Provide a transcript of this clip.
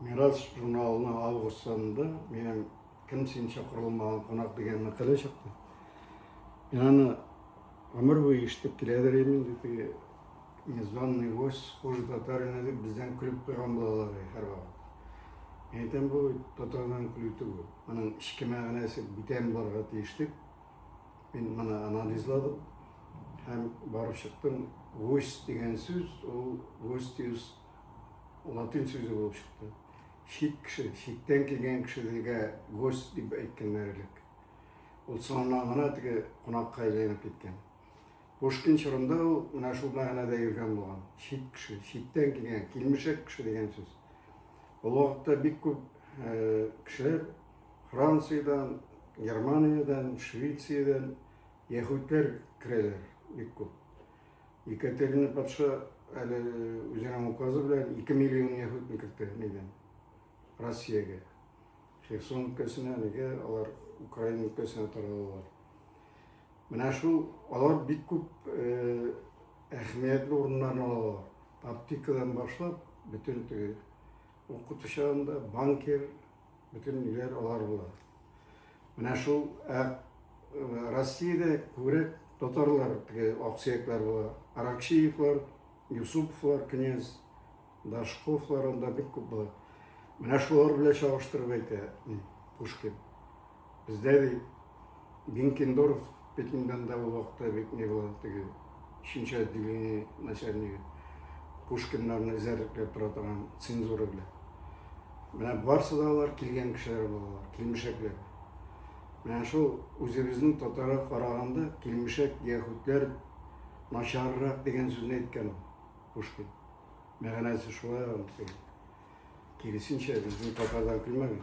Мирас журналының август санында минем кем син чакырылмаган кунак дигән мәкалә чыкты. Мин аны гомер буе ишетеп киләдер идем инде теге незваный гость хуже татарина дип бездән көлеп куйган булалар һәрвакыт. Мин әйтәм бу татардан көлү түгел. Моның эчке мәгънәсе бүтән барга тиеш дип мин моны анализладым һәм барып чыктым. Гость дигән сүз ул гостиус Латин сүзе булып чыкты. Чит кеше, читтән килгән кешеләргә гость дип әйткәннәр элек. Ул соңыннан гына теге кунакка әйләнеп киткән. Пушкин чорында ул менә шул мәгънәдә йөргән булган. Чит кеше, читтән килгән, килмешәк кеше дигән сүз. Ул вакытта бик күп э, кешеләр Франциядән, Германиядән, Швециядән яһүдләр керәләр бик күп. Екатерина патша әле үзенең указы белән 2 миллион яһүдне кертте нидән? Россиягә. Херсон өлкәсенә әлегә алар Украина өлкәсенә таралалар. Менә шул алар бик күп э, әһәмиятле урыннарны алалар. Аптекадан башлап, бөтен теге укытучан да, банкир, Бөтен ниләр алар була. Менә шул ә, Россиядә күбрәк татарлар теге аксөякләр була. Аракчиевлар, Юсуповлар, князь, Дашковлар анда бик күп була. Менә шулар белән чагыштырып әйтә Пушкин. Бездә бит Бенкендорф Пекиндан да ул вакытта бит не было теге өченче отделение начальнигы Пушкиннарны эзәрлекләп тора торган цензура белән. Менә барсы да алар килгән кешеләр булалар, килмешәкләр. Менә шул үзебезнең татарга караганда килмешәк яһүдләр начаррак дигән сүзне әйткән Пушкин. Мәгънәсе шулай аңсый. Киресенчә, безнең татардан көлмәгән.